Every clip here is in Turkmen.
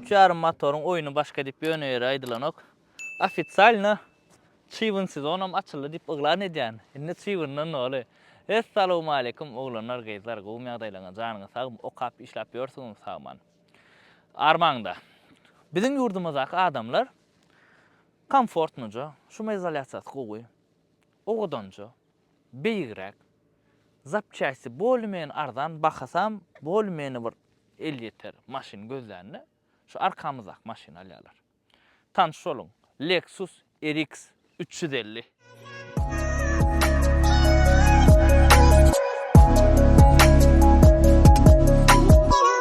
Üç ýarym motoryň oýny başga diýip ýöne ýere aýdylanok. Ofisialno çybyn sezonam açyldy diýip yglan edýän. Indi çybyndan doly. Essalowmaleýkum oglanlar gyzlar gowmy ýagdaýlaňyz janyňyz sagmy okap işläp ýörsüňiz sagman armaňda biziň ýurdumyzdaky adamlar komfortnoja şumy izolýasiýasy gowy owadanja beýigräk, zapçasty bolmyany arzan bahasam bolmyany bir elýeter maşyn gözlände şu arkamyzdaky maşyny alýarlar. Tanyş boluň, Lexus RX üç ýüz elli.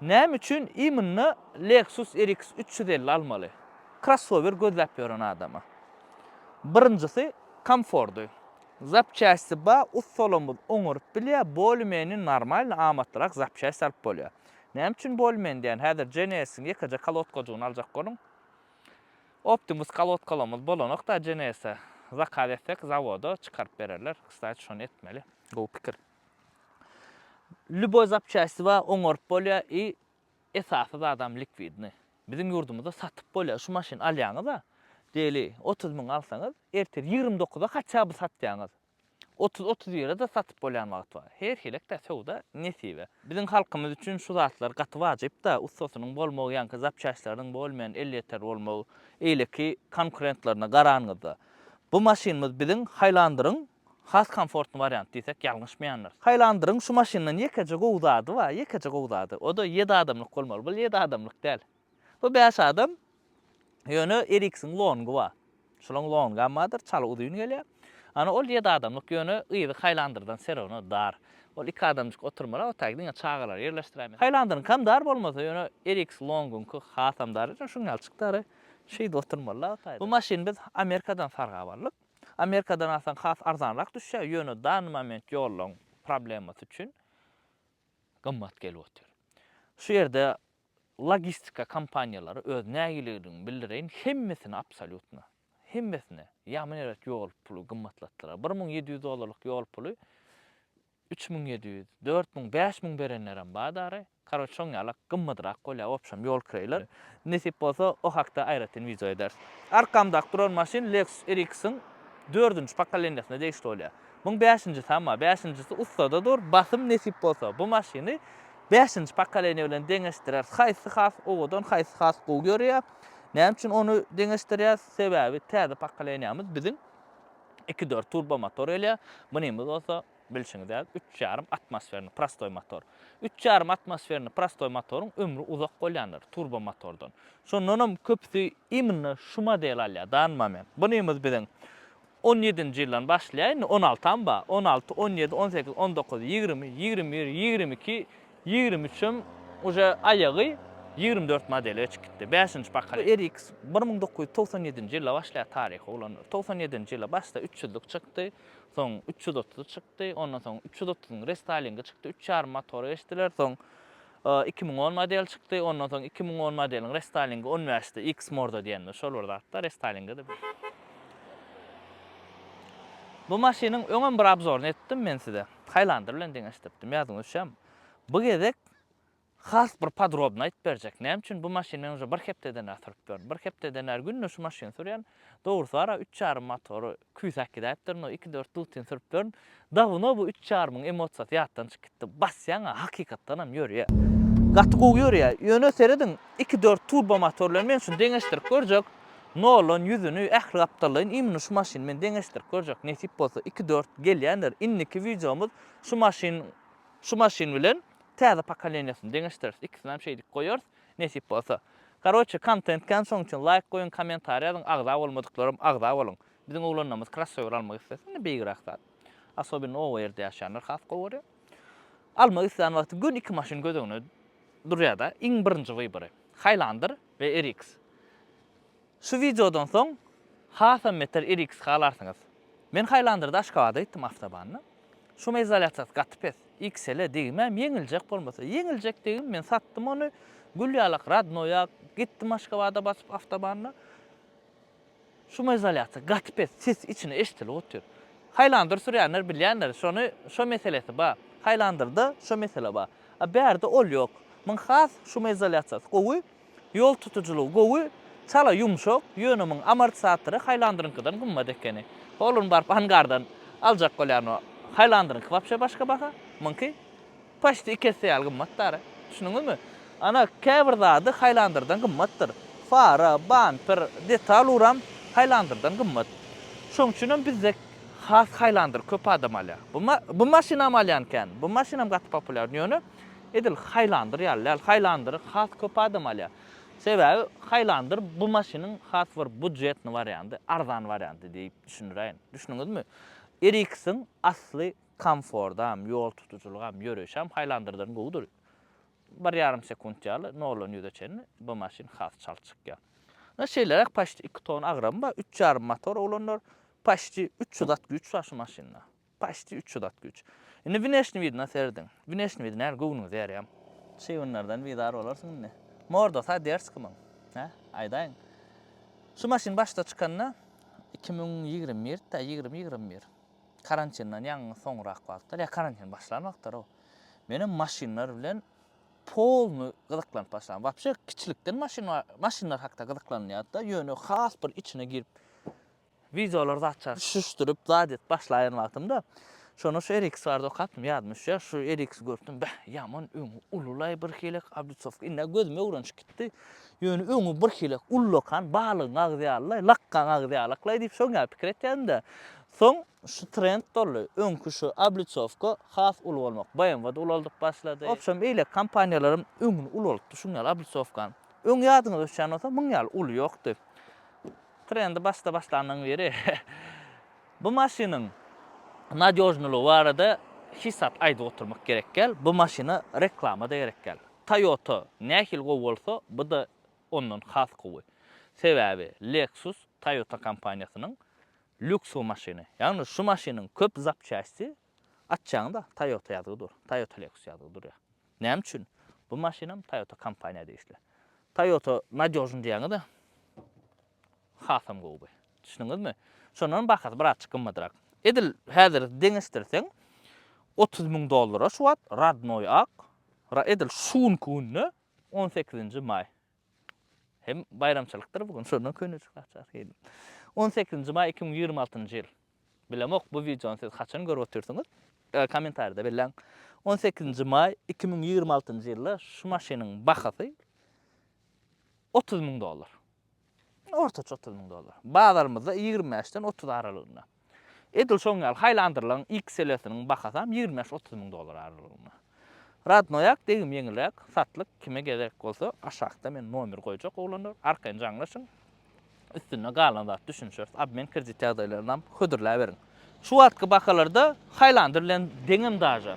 Näme üçin imynda Lexus RX üç ýüz elli almaly? Krossower gözläp ýören adama. Birinjisi, komfordy. Zapçasti bar, ussalarymyz oňaryp bilýär, bolymeni normalny amatlyrak zapçasti alyp bolýar. Näme üçin bolymeni diýýän, häzir GNS-iň ýekeje kolodkajygyny aljak boluň. Optimus kolodkalarymyz bolanok da GNS-e zakaz etsek zawoda çykaryp bererler. Kstati şony etmeli. Gowy pikir. Lýuboý zapçasty bar, oňaryp bolýar i esasy zadam likwidnyý. Biziň ýurdumyzda satyp bolýar, şu maşyny alýaňyz-a, diýeli, otuz müň alsaňyz, ertir ýigrimi dokuza haçan by satýaňyz. Otuz, otuz bire-de satyp bolýan wagty bar. Her hilik-de söwda nesibe. Biziň halkymyz üçin şu zatlar gaty wajyp-da, ussasynyň bolmagy, ýaňky zapçastlarynyň bolmaýan elýeter bolmagy, eýleki konkurentlerine garanyňyzda. Bu maşynymyz biziň Haýlandyryň Has komfortny wariant diýsek ýalňyşmaýandyr. Haýlandyryň şu maşyndan ýekeje gowy zady bar, ýekeje gowy zady. O-da ýedi adamlyk bolmaly. Bu ýedi adamlyk däl. Bu bäş adam. Ýöne RX-iň longy bar. Şulaň longam bardyr, çaly uzyn gelýär. Ana ol ýedi adamlyk, ýöne yzy Haýlandyrdan serowno dar. Ol iki adamjyk oturmala, otag diňe çagalary ýerleşdiräýmeli. Haýlandyryňkam dar bolmasa, ýöne RX longyňky hasam dar. Şuň ýalyjyk dary. Şeýdip oturmaly-la otagda. Bu maşyny biz Amerikadan sargap aldyk. Amerikadan alsaň has arzanrak düşýär, ýöne dany moment ýollaryň problemasy üçin gymmat gelip otyr. Şu ýerde logistika kompaniýalary öz nägileligimi bildireýin, hemmesini absolýutno, hemmesini, ýagmy nebet ýol puly gymmatlatdylar. Bir müň ýedi ýüz dollarlyk ýol puly Üç müň ýedi ýüz, dört müň, bäş müň berenlerem bar dary. Karoç şoň ýala gymmatrak bolýar opşam ýol kireýler. Nesip bolsa o hakda aýratyn wideo ederis. Arkamdaky duran maşyn Lexus RX-iň dördünji pokoleniýasyna degişli bolýar. Muň bäşinjisem bar. Bäşinjisi ussada dur. Basym nesip bolsa bu maşyny bäşinji pokoleniýa bilen deňeşdireris. Haýsy has owadan, haýsy has gowy ýörýär. Näme üçin ony deňeşdirýäs? Sebäbi täze pokoleniýamyz biziň iki dört turbo motor gelýär. Munymyz bolsa bilşiňiz ýaly üç ýarym atmosferni prostoý motor. Üç ýarym atmosferni prostoý motoryň ömri uzak bolýandyr turbo motordan. Şondan hem köpüsi imенно şu modeli alýar dany moment. Bunymyz biziň on ýedinji ýyldan başlaýar indi on altam bar on alty on ýedi on sekiz on dokuz ýigrimi ýigrimi bir ýigrimi iki Ýigrimi üçem uje aýagy ýigrimi dört modele geçip gitdi. Bäşinji pokoleniýa. RX bir müň dokuz ýüz togsan ýedinji ýylda başlaýar taryhy bolan. Togsan ýedinji ýylda başda üç ýüzlik çykdy. Soň üç ýüz otuzy çykdy. Ondan soň üç ýüz otuzyň restoýlingi çykdy. Üç ýarym motora geçdiler. Soň iki müň on model çykdy. Ondan soň iki müň on modeliň restoýlingi on bäşdi. X morda diýendir. Şol bir zatda restoýlingi-de. Bu maşynyň öňem bir obzoryny etdim men size. Highlander bilen deňeşdiripdim, ýadyňyza düşýärmi? Bu gezek has bir podrobny aýdyp berjek. Näme üçin bu maşyny men uje bir hepdeden bäri sürüp ýörün. Bir hepdeden bäri günde şu maşyny sürýän. Dogrusy bar-a, üç ýarym motory küýsäp gidäýipdirin, o iki dört dutini sürüp ýörün. Dawno bu üç ýarymyň emosiýasy ýatdan çykyp gitdi. Basýaň-a, hakykatdan hem ýörýär. Gaty gowy ýörýär. Ýöne serediň, iki dört turbomotor bilen men şuny deňeşdirip görjek. Nolan ýüzüni ähli gapdallaýyn imini şu maşyn bilen deňeşdirip görjek nesip bolsa iki dört gelýändir indiki wideomyz şu maşyn şu maşyn bilen täze pokoleniýasyny deňeşdireris ikisinäm şeýdip goýarys nesip bolsa karoçe kontent kän şoň üçin laýk goýuň kommentariý ýazyň agza bolmadyklaram agza boluň biziň oglanlarymyz krossower almak islese indi beýigräk zat asobinno oba ýerde ýaşaýanlar has gowy görýär almak islän wagty gön iki maşyn göz öňüne durýada iň birinji wybry haýlandyr. we RX. Şu wideodan soň hasam beter RX halarsyňyz. Men Highlander-da Aşgabada gitdim awtobanda. Şumoizolýasiýasy gaty pes. XL-e degmäm ýeňiljek bolmasa. Ýeňiljek degim men satdym ony. Gül ýalak Radnoýa gitdim Aşgabada basyp awtobanda. Şumoizolýasiýa gaty pes ses içine eşdilip otyr. Haýlandyr sürýänler bilýändir, şony şo meselesi bar. Haýlandyrda şo mesele bar. A bärde ol ýok. Muň has şumoizolýasiýasy gowy, ýol tutujylygy gowy, çala ýumşak, ýöne muň amortisatory haýlandyryňkydan gymmat ekeni. Ol ony baryp angardan aljak bolýan o. Haýlandyryňky wapşe başga baha, muňky Paçti iki esse ýaly gymmat dara. Düşündiňizmi? Ana, käbir zady haýlandyrdan gymmatdyr. Fara, bamper, detal uram haýlandyrdan gymmat. Şoň üçin hem bizde has haýlandyr köp adam alýar. Bu bu maşynam alýan kän. Bu maşynam gaty populýar. Ýöne edil haýlandyr ýaly däl. Haýlandyry has köp adam alýar. Sebäbi haýlandyr bu maşynyň has bir budjetny wariandy, arzan wariandy diýip düşündiräýin. Düşündiňizmi? RX-iň asly komfordam, ýol tutujylygam, ýöreýşem haýlandyrdyryn gowudyr. Bir ýarym sekunt ýaly noldan ýüze çenli bu maşyn has çalt çykýar. Ine şeýleräk paçti iki ton agramy bar, üç ýarym motor oglanlar, paçti üç ýüz at güýç bar şu maşynda. Paçti üç ýüz at güýç. Indi wneşni widine serediň. Wneşni wid näl göwnüňizi ýarýam. Şi günlerden bizar bolarsyň indi. Mordasa ders kimiň. Hä? Aýdaýyň. Şu maşyn başda çykanda iki müň ýigrimi birdi-dä, ýigrimi, ýigrimi bir. Karantindan ýaňy soňrak wagtlar, ýa karantin başlan wagtlary-ow, menem maşynlar bilen polny gyzyklanyp başladym. Wapşe, kiçilikden maşyn, maşynlar hakda gyzyklanylýardy-da, ýöne has bir içine girip, wideolar zat çar, düşüşdirip, zat edip başlaýan wagtymda, şonda şu RX barada okapdym, ýadyma düşýär, şu RX-i görüpdim, beh, ýaman öňi uly-laý birhili, oblitsowka, indi-ä gözüme öwrenişip gitdi, Ýöne öňi birhili ullakan balygyň agzy ýalylaý, lakgaň agzy ýalaklaý diýip şoň ýaly pikir etýädim-de, soň şu trend boldy. Öňki şu obliçowka has uly bolmak, BMW-de ulaldyp başlady. Wobşem, eýle kompaniýalaram öňüni ulalypdy şuň ýaly obliçowkanyň. Öň ýadyňyza düşýän bolsa, muň ýaly uly ýokdy. Trendi başda başlanyň biri bu maşynyň nadýožnylygy barada hiç zat aýdyp oturmak gerek däl. Bu maşyna reklama-da gerek däl. Toyota nähili gowy bolsa, bu-da ondan has gowy. Sebäbi Lexus Toyota kompaniýasynyň lýuksly maşyny. Ýagny şu maşynyň köp zapçästi açjagyňda Toyota ýazgy dur, Toyota Lexus ýazgy durýar. Näme üçin? Bu maşynam Toyota kompaniýa degişli. Toyota nadýožny diýýäňiz-ä. Hasam gowy. Düşdüňizmi? Şondan bahasy birazjyk gymmadrak. Edil häzir deňeşdirseň, otuz müň dollara şu wagt rodnoý ak, edil şu günki günde on sekizinji maý. Hem baýramçylykdyr bu gün, şondan köneçik açar gelin. On sekizinji maý iki müň ýigrimi altynjy ýyl. Bilemok, bu wideony siz haçan görüp otyrsyňyz? Kommentariýada belläň. On sekizinji maý iki müň ýigrimi altynjy ýylda şu maşynyň bahasy otuz müň dollar. Ortaça otuz müň dollar. Bazarymyzda ýigrimi bäşden otuz aralygynda. Edil şoň ýaly haýlandyrylan XL-siniň bahasam ýigrimi bäş-otuz müň dollar aralygynda. Radnoýak degim ýeňilräk satlyk, kime gezek bolsa aşakda men nomer goýjak oglanlar, arkaýyn jaňlaşyň, üstünde galan zat düşünişeris, obmen kredit ýagdaýlarynam hödürläberiň. Şu wagtky bakalarda haýlandyr bilen deňem daža.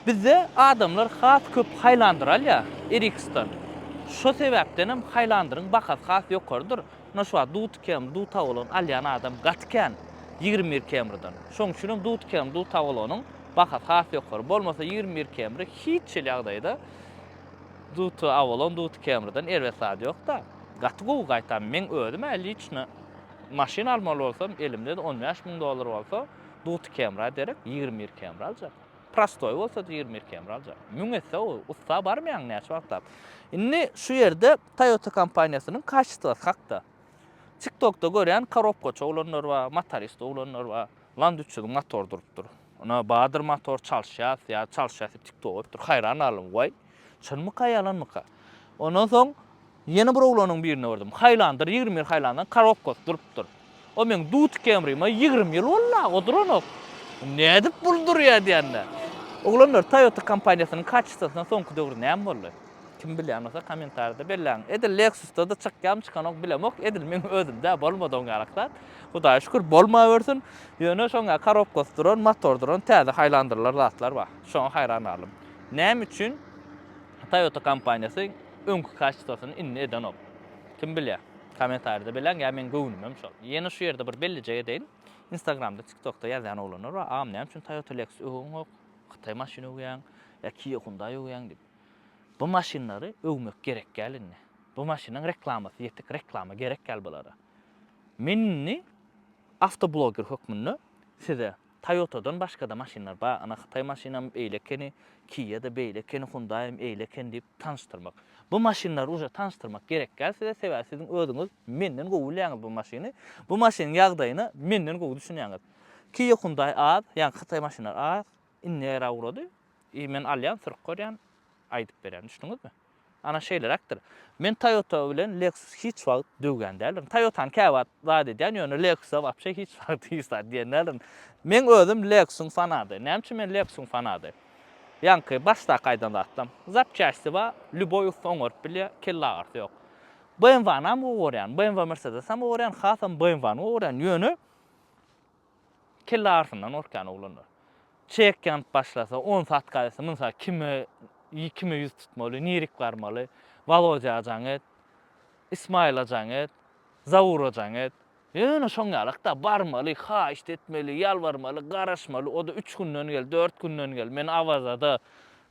Bizde adamlar has köp haýlandyr alýar Eriksdan. Şo sebäpdenem haýlandyryň bakasy has ýokarydyr. Mundan şu wagt Dut Km, Dut Awalon alýan adam gaty kän ýigrimi bir Km-den. Şonuň üçinem Dut Km, Dut Awalonyň bakasy has ýokary. Bolmasa ýigrimi bir Km-i hiç hili ýagdaýda Dut Awalon, Dut Km-den erbet zady ýok-da. Gaty gowy gaýtam. Meň özüm-ä liçno Maşyn almaly bolsam, elimde-de on bäş müň dollar bolsa, duty kemra derek, ýigrimi bir kemra aljak. Prostoý bolsa-da ýigrimi bir kemra aljak. Müň etse gowy, ussa barmaýaň näçe wagtlap. Indi şu ýerde Toyota kompaniýasynyň kaçestwasy hakda. TikTokda görýän korobkaçy oglanlar bar, motorist oglanlar bar. Land üç ýüzüň motory durupdyr. Ine, bardyr motor, çalyşýas, ýa çalyşýas diýip TikTok goýupdyr. Haýran galdym, waý, çynmyka, ýalanmyka? Ondan soň Ýene bir oglanyň birine gördüm. Haýlandyr, ýigrimi bir haýlandan korobkasy durupdyr. O meň dut kemrime ýigrimi ýyl boldy-a, o duranok. Nädip bul durýa diýende. Oglanlar, Toyota kompaniýasynyň kaçistosyna soňky döwür näme boldy? Kim bilýän bolsa kommentarida belläň. Edil Lexus-da-da çykýamy, çykanok bilemok. Edil meň özümde-ä bolmady oň ýaly zat. Hudaýa şükür, bolmawersin. Ýöne şoňa korobkasy duran, motor duran täze haýlandyrlar zatlar bar. Şoňa haýran galdym. Näme üçin? Toyota kompaniýasy öňki kaçtasyny indi edenok. Kim bilýär? Kommentarýada belläň ýa meň göwnümem şol. Ýene şu ýerde bir bellijek edeýin. Instagramda, TikTokda ýazýan oglanlar bar, Agam näme üçin Toyota Lexus öwegiňok? Hytaý maşyny öwýäň ýa Kia Hyundai öwýäň diýip. Bu maşynlary öwmek gerek däl indi. Bu maşynyň reklamasy ýetik, reklama gerek däl bulara. Men indi awtobloger hökmünde size Toyotadan başgada maşynlar bar, ana hytaý maşynam eýle ekeni, kia-da beýle ekeni, hundaýam eýle ekeni diýip tanyşdyrmak. Bu maşynlary uže tanyşdyrmak gerek däl size, sebäbi siziň özüňiz menden gowy bilýäňiz bu maşyny, bu maşynyň ýagdaýyna menden gowy düşünýäňiz. Kia hundaý az, ýagny hytaý maşynlary az, indi era ugrady, i men alýan, sürüp görýän, aýdyp berýän, düşdüňizmi? Ana şeýleräkdir. Men Toyota bilen Lexus hiç wagt döwýän däldirin. Toyotany käwagt zat edýän, ýöne Lexusa wapşe hiç wagt hiç zat diýen däldirin. Meň özüm Lexusyň fanady. Näme üçin men Lexusyň fanady? Ýaňky başdaky aýdan zatlam. Zapçaşty bar, lýuboý ussa oňaryp bilýär, kellagyrsy ýok. BMW-nam gowy görýän, BMW Mercedes-am gowy görýän, hasam BMW-ny gowy görýän, ýöne. Kelle arsyndan gorkýan oglanlar. Çek ýanyp başlasa, onsy atgaýlasa, munsy kime, kime ýüz tutmaly, nirik barmaly? Walodýa jaň et, Ismaýyla jaň et, Zawura jaň et. Ýöne şoň ýalak-da, barmaly, haýyşt etmeli, ýalbarmaly, garaşmaly, o-da üç günden gel, dört günden gel, men Awaza-da.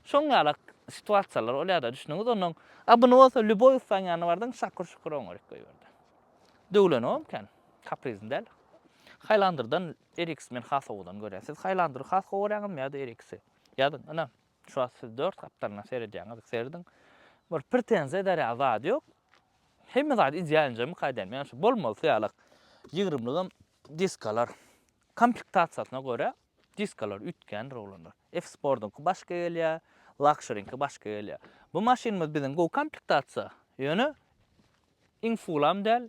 Şoň ýalak situasiýalar bolýar-da, düşdüňiz? Onnoň, a buny bolsa lýuboý ussaň ýanyna bardyň, şakur-şukur oňaryk goýberdi. Döwlenogam kän. Kaprizin däl. Hylandyrdan Eriks men has owadan görýän. Siz Hylandyry has gowy görýäňizmi ýa-da Eriksi? Ýazyň, ynha, şu wagt siz dört gapdalyna seredýäňiz, serediň. Bir pretenziýa ederýan zady ýok. Hemme zady ideal injemik aýdaýyn. Meň şu bolmaly syýalak ýygrymlygym diskalar. Komplektasiýasyna görä diskalar üýtgändir oglanlar. F-Sportyňky başga gelýär, Luxury-niňki başga gelýär. Bu maşynymyz biziň gowy komplektasiýa, ýöne iň fulam däl,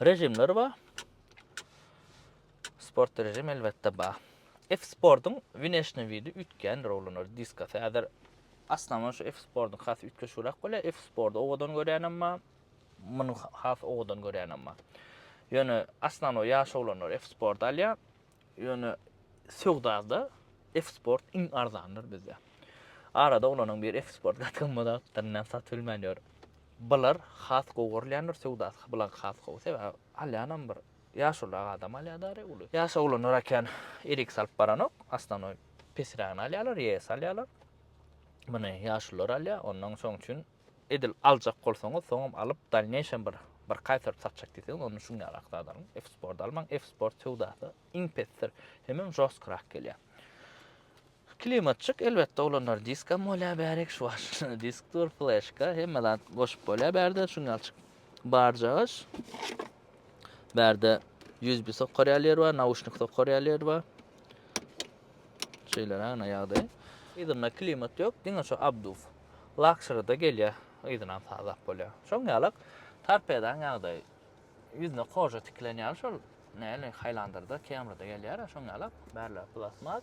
Režimler bar. Sport režim elbetde bar. F-sportuň wneşny widi üýtgändir oglanlar diska. Häzir aslama şu F-sportuň has üýtgeşigräk bolýar. F-sporty owadan görýänem bar. Muny has owadan görýänem bar. Ýöne aslama ýaş oglanlar F-sporty alýar. Ýöne söwdada F-Sport iň arzandyr bizde. Arada olaryň bir F-Sport gatgymyz alypdyr, näme satyp bilmän ýör. Bular has gowy görülýändir söwdasy, bular has gowy. Sebäbi alýanam bir ýaşulyrak adam alýar-da re uly. Ýaş oglanlar äkän RX alyp baranok, astanoý pesrägini alýarlar, ES alýarlar. Muny ýaşulylar alýar, onnoň şoň üçin Edil aljak bolsaňyz soňam alyp dalneýşem bir bir kaýtaryp satjak diýseňiz onda şuň ýaly akzat alyň. F-sport almaň. F-sport söwdasy iň pesdir. Hemem žostkyrak gelýär. Klimatçyk elbetde olanlar diskam bolýar bärik şu wagt disk dur fleşka hemme zat goşup bolýar bärde şuň ýalçyk barjagaş. Bärde USB sokar ýaly ýer bar, nauşnik sokar ýaly ýer bar. Şeýle rana ýagdaý. Yzynda klimat ýok, diňe şu abduf. lakşyryda gelýär, yzynam sazak bolýar. Şoň ýalak torpedaň ýagdaýy ýüzüne koža tikilen ýaly şol näli Haýlandyrda, Kemryda gelýär-ä şoň ýalak, bärler plastmas.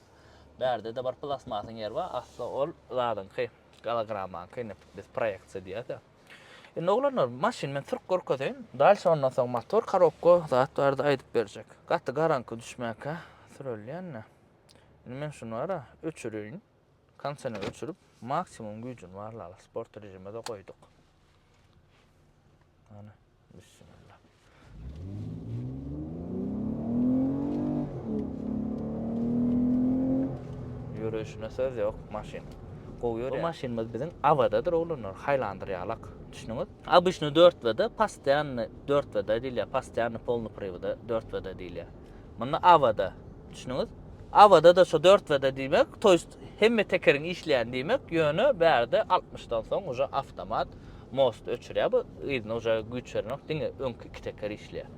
Bärde-de bir plastmasyň ýeri bar, asly ol zadyňky, gologrammaňky ine biz proýeksiýa diýýäs-ä. Indi oglanlar, maşyny men sürüp görkezeýin, dalşy ondan soň motor, korobka zat barada aýdyp berjek. Gaty garaňky düşmäkä sürelýän-de. Indi men şuny bar-a, öçüreýin. Konsini öçürip, maksimum güýjüni barlaly. Sport režime-de goýduk. Ana, bismillah. Ýörüşine söz ýok, maşyn. Gowy ýörýär. Bu maşynymyz biziň Awadadyr oglanlar, haýlandyr ýalak. Düşdüňiz? Obyçny 4 WD, postoýanny 4 WD diýilýär, postoýanny polny priwda 4 WD diýilýär. Munda Ava-da. Düşdüňiz? Ava-da-da şo dört W-da diýmek, to ýest hemme tekeriň işleýän diýmek, ýöne bärde altmyşdan soň uje awtomat most öçürýär bu, yzyna uje güýç berenok, diňe öňki iki teker işleýär.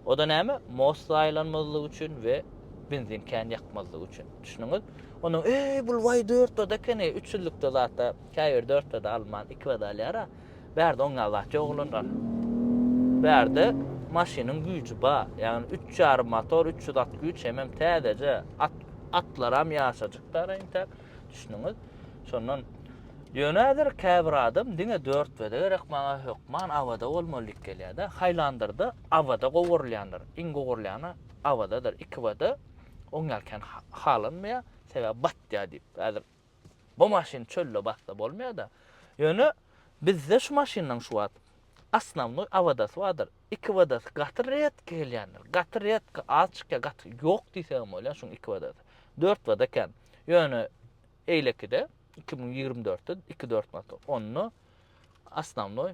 O-da näme? Most zaýalanmazlygy üçin we benzin kän ýakmazlygy üçin. Düşdüňiz? Onnoň, eý, bul waý dört W-da ekeni, üç ýüzlükde zat-a, käbir dört W-da alman, iki W-da alýar-a. Bärde oňňa zat ýok olanlar. Bärde maşynyň güýji bar. Ýagny üç ýarym motor, üç ýüz at güýç hemem täzeje at atlaram ýaşajykdara intäk. Düşündiňiz? Şondan Ýöne häzir käbir adam diňe dört bede gerek maňa hökman awada bolmaly diýip gelýärde. Haýlandyrda awada gowurylýandyr. Iň gowurylýany awadadyr. Iki bede oňňa kän halanmaýar. Sebäbi batýar diýip. Häzir Bu maşyn çölde bassa bolmaýada. Ýöne bizde şu maşynlaň şu wagt osnownoý awodasy bardyr. Iki wodasy gaty redki gelýändir. Gaty redki az çykýar, gaty ýok diýsegem bolýar şuň iki wodasy. Dört woda kän. Ýöne eýlekide iki müň ýigrimi dörtde iki dört motor. Onda osnownoý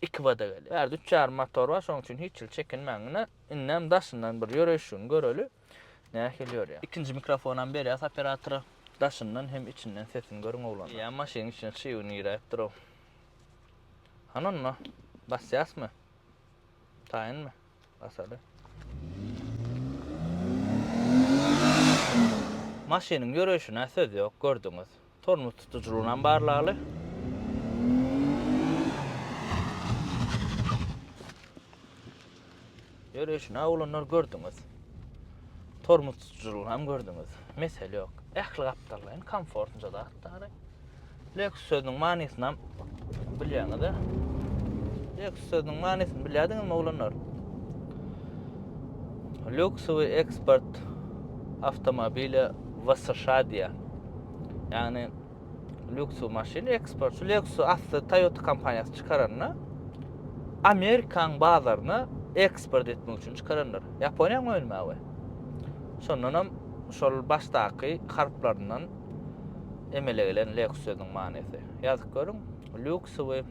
iki woda gelýär. Bärde üç ýarym motor bar, şoň üçin hiç hili çekinmäňňine indem daşyndan bir ýöreýşigini göreli. Nähili ýörýär. Ikinji mikrofonam berýas operatora. Daşyndan hem içinden sesini görüň oglanlar. Ýa maşynyň içine çyg un giräýipdir-ow. Hany onda, basýasmy? Taýynmy? Basaly. Maşynyň ýöreýşine söz ýok, gördüňiz. Tormoz tutujylygyny hem barlaly. Ýörüşini awlanlar gördüňiz. Tormoz tutujylygyny hem gördüňiz. Mesele ýok. Ähli gapdallar hem komfortnja zatlar. Lexus sözüniň manysyny Bilýäňiz-ä. Leks sözüniň manysyny bilýärdiňizmi oglanlar? Lüksowy eksport awtomobile w sşa diýýär. Ýagny lüksow maşyn eksport. Şu lüksow asly Toyota kompaniýasy çykaranda Amerikaň bazaryna eksport etmek üçin çykarandyr. Ýaponiýaň önümi we. Şondan hem şol başdaky harplaryndan Emele gelen leks sözüniň manysy. Ýazyp görüň, lýuksowy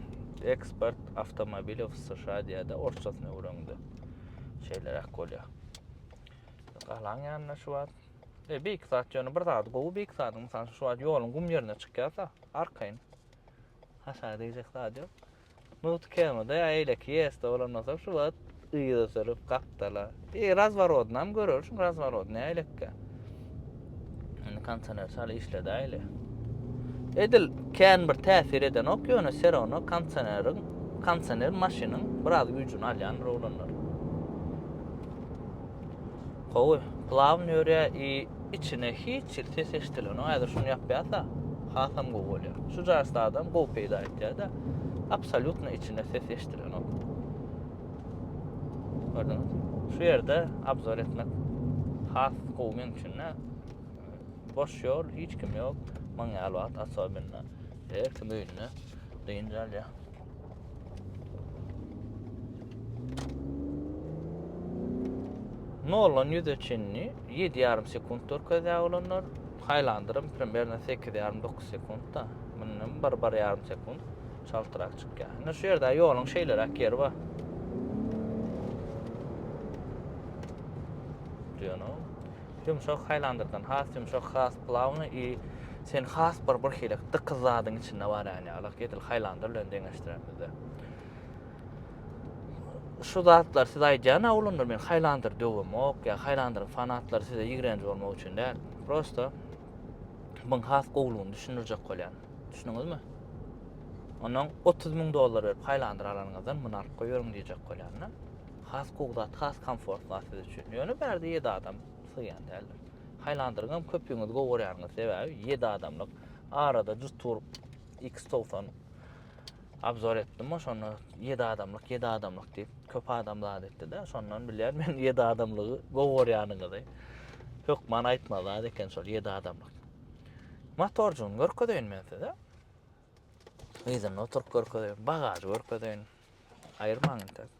eksport awtomobilýa w sşa diýädä orsçasyny öwreniňde şeýleräk bolýa. Galaň ýanyna şu wagt e, beýik zat ýöne bir zady gowy beýik zadyň mysal şu wagt ýoluň gum ýerine çykýarsa arkaýyn haşa diýjek zady ýok. Mugt kemede aýleki ýesde bolan bolsa şu wagt yza sürüp gapdala. Eý razworodynam görersiň razworodny aýlekge. Indi kondisioner çal işledäýli. Edil kän bir täsir edenok ýöne serowno kondisioneriň kondisioner maşynyň biraz güýjüni alýandyr oglanlar. Gowy, plawny ýörýär i Içine hiç hil ses eşdilenok. Häzir şuny ýapýasa, hasam gowy bolýar. Şu jasda adam gowy peýda etýär-de, absolýutno içine ses eşdilenok. Gördüňiz? Şu ýerde obzor etmek has gowy meniň üçin. Boş ýol, hiç kim ýok. Maňa ýaly wagt, asobinna. Her kim öýünde dynç alýar. Noldan ýüze çenli ýedi ýarym sekunt görkezýär olanlar. Highlander-ym primernä sekiz ýarym, dokuz sekuntda. Mundan bir, bir ýarym sekunt çaltrak çykýar. Indi şu ýerde ýoluň şeýleräk ýeri bar. Ýumşak haýlandyrdan has ýumşak has plawnyý i sen has bir bir hili dykyz zadyň içinde barýan ýaly edil haýlandyr bilen deňeşdiremizde. Şu zatlar siz aýdýan awlyndyr men haýlandyr döwemok ýa haýlandyryň fanatlary size ýigrenji bolmak üçin däl. Prosta muň has gowulygyny düşündirjek bolýan. Düşündiňizmi? Onuň 30 müň dollar berip haýlandyr alanyňyzdan muny alyp goýberiň diýjek bolýan-da. Has gowy zat, has komfort zat siz üçin. Ýöne bärde ýedi adam sygýan däldir. Haýlandyryňam köpügiňiz gowy görýäňiz, sebäbi ýedi adamlyk. Arada jut tur X90 obzor etdim, oşonda ýedi adamlyk, ýedi adamlyk diýip köp adam zat etdi-de, şondan bilýän men ýedi adamlygy gowy görýäniňizi. Hökman aýtma zat eken şol ýedi adamlyk. Motorjygyny görkezeýin men size. Yzynda oturyp görkezeýin, bagažy görkezeýin. Aýyrmaň entek.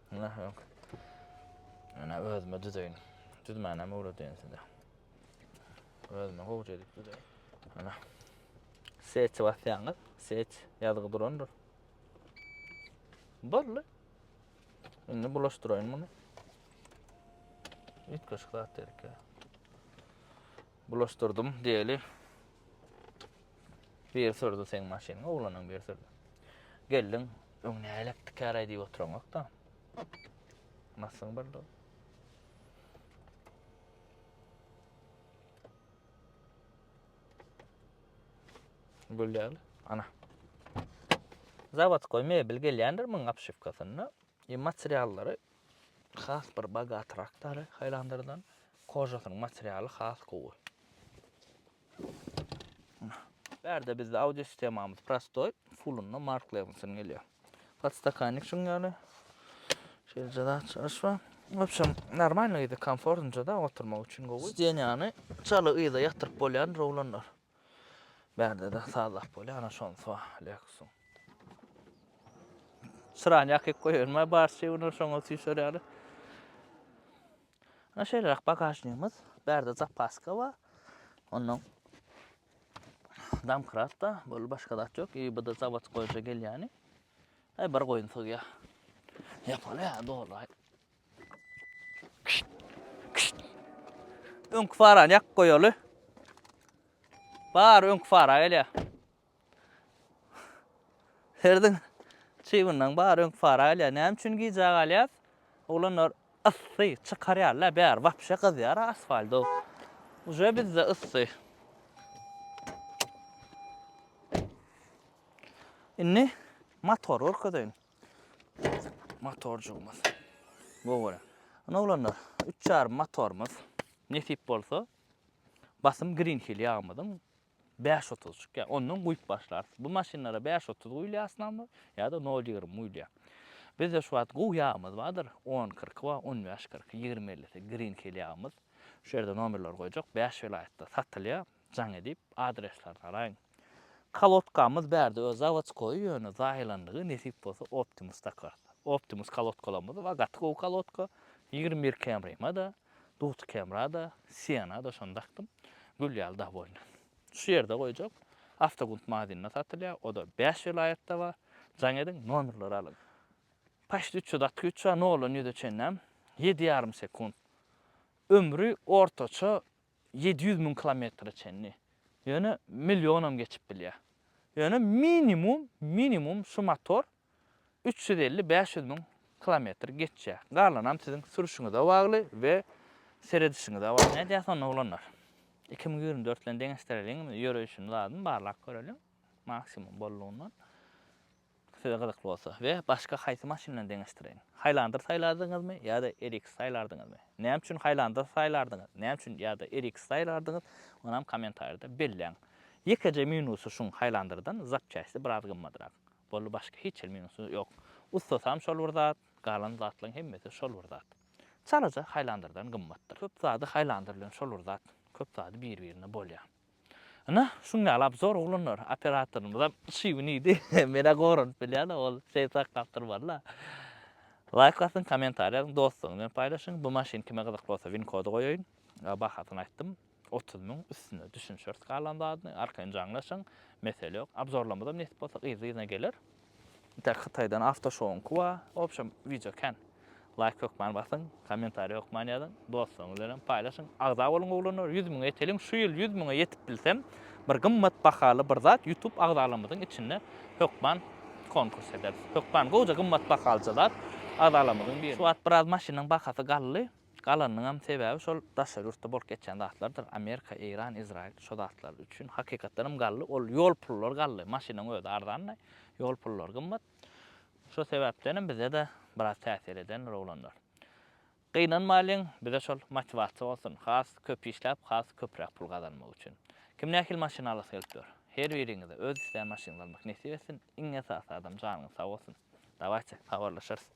Nah ýok. Ene özüme düzeýin. Düzmänem öwredýän size. Özüme gowja edip düzeýin. Ana. Seç basýaňyz. Seç ýazgy durandyr. Boldy. Indi bulaşdyraýyn muny. Üýtgeşik zat dedik ya. Bulaşdyrdım diýeli. Biri sürdi seň maşynyňy, oglanyň biri sürdi. Geldiň, öň nälelik tikäräý diýip oturan ýok-da. Masyň birdi. Gülýär. Ana. Zawodkoý mebel gelýändir muň apşywkasynda. E materiallary has bir bogatrak dary haýlandyrdan. Kožasynyň materialy has gowy. Bärde bizde audio sistemamyz prostoý, fullunda Mark Levinson gelýär. Podstakannik şuň ýaly. Şeýleje zat çalyş bar. Wobşem, normalny ýa-da komfortnja da oturmak üçin gowy. Sdeniýany çala yza ýatyryp bolýandyr oglanlar. Bärde-de sazlap bolýar, ana şonusy bar Lexus-yň. Çyrany ýakyp goýbermä, barçy günler şoňa süýşer ýaly. Ine şeýleräk bagažnigimiz. Bärde zapaska bar. Ondan damkratda bol başga zat ýok. I bu da zawod goýja gelýäni. Ay bir goýun sygýar. Ýapaly ýa doly. Öňki farany ýakyp goýaly. Bar öňki fara gelýär. Herdiň çybyndan bar öňki para gelýär. Näme üçin gijä galýas? Oglanlar yssy çykarýarlar, bäri wapşe gyzýar asfaldo. Uje bizde yssy. Indi motor görkezeýin. Motorjygymyz. Bu görä. Ana oglanlar, 3 ýarym motorymyz. Nesip bolsa, basym Green Hill ýagymyzyň Bäş otuz çykýar. Ondan guýup başlarys. Bu maşynlara bäş otuz guýulýar asnamly, ýa-da nol ýigrimi guýulýar. Bizde şu wagt gowy ýagymyz bardyr. On kyrky bar, on bäş kyrky, ýigrimi ellisi grinkel ýagymyz. Şu ýerde nomerleri goýjak. Bäş welaýatda satylýar. Jaň edip, adreslerini alaýyň. Kolodkamyz bärde öz zawodskoýy, ýöne zaýalandygy, nesip bolsa Optimus takarys. Optimus kolodkalarymyz bar, gaty gowy kolodka. Ýigrimi bir Camry-ma-da. Dugty kemra-da, siena-da şony dakdym. Gül ýaly dag boýny. Şu ýerde goýjak. Awtogunt magazynynda satylýar. O-da bäş welaýatda bar. Jaň ediň, nomerleri alyň. Poçt üç ýüz atky üç bar, noldan ýüze çenlem, ýedi ýarym sekunt. Ömri ortaça ýedi ýüz müň kilometre çenli. Ýöne millionam geçip bilýär. Ýöne minimum, minimum şu motor üç ýüz elli, bäş ýüz müň kilometr geçýär. Galanam siziň sürüşiňize bagly we seredişiňize bagly. Nädýäs onda oglanlar? Iki müň ýigrimi dört bilen deňeşdireliň, ýöreýşini zadyn barlap göreliň, maksimum bollugyndan. Size gyzykly bolsa we başga haýsy maşyn bilen deňeşdireýin? Highlander saýlardyňyzmy ýa-da RX saýlardyňyzmy? Näme üçin Highlander saýlardyňyz? Näme üçin ýa-da RX saýlardyňyz? Onam kommentariýada belläň. Ýekeje minusy şuň Highlanderdan zapçästi biraz gymmadrak. Boldy başga hiç hil minusy ýok. Ustasam şol bir zat, galan zatlaň hemmesi şol bir zat. Çalaja haýlandyrdan gymmatdyr. Köp zady haýlandyr bilen şol bir zat, köp zady bir birine bolýa. Ynha şuň ýaly obzor oglanlar, operatorymyzam şyby nidi menä goranyp bilýäne ol şeý sakgapdyr walla. Laýk basyň kommentariý ýazyň dostlaryňyz bilen paýlaşyň bu maşyn kime gyzykly bolsa win kody goýaýyn bahasyny aýtdym. Otuz müň üstüne düşünşeris galan zadyny arkaýyn jaňlaşyň mesele ýok abzorlamyzam nesip bolsa gyzly yzyna geler. Intäk hytaýdan awtoşowuňky bar obşem wideo kän laýk hökman basyň kommentariý hökman ýazyň dostlaryňyz bilenem paýlaşyň agza boluň oglanlar ýüz müňe ýeteliň şu ýyl ýüz müňe ýetip bilsem bir gymmat bahaly bir zat ýutub agzalarymyzyň içinde hökman konkurs ederis hökman gowja gymmat bahalyja zat agzalarymyzyň birine şu wagt biraz maşynyň bahasy galdy. Galanynyňam sebäbi şol daşary ýurtda bolup geçýän zatlardyr. Amerika, Eýran, Izraýyl şo zatlar üçin hakykatdan hem gally. Ol ýol pullary gally. Maşynyň özi arzanlaý. Ýol pullary gymmat. Şo sebäpdenem bize-de biraz täsir edendir oglanlar. Gynanmalyň, bize şol motiwasiýa bolsun. Has köp işläp, has köpräk pul gazanmak üçin. Kim nähili maşyn alasy gelip ýör? Her biriňize öz islän maşynyňyzy almak nesip etsin. Iň esasy adam janyňyz sag bolsun. Dawaýçy, habarlaşarys.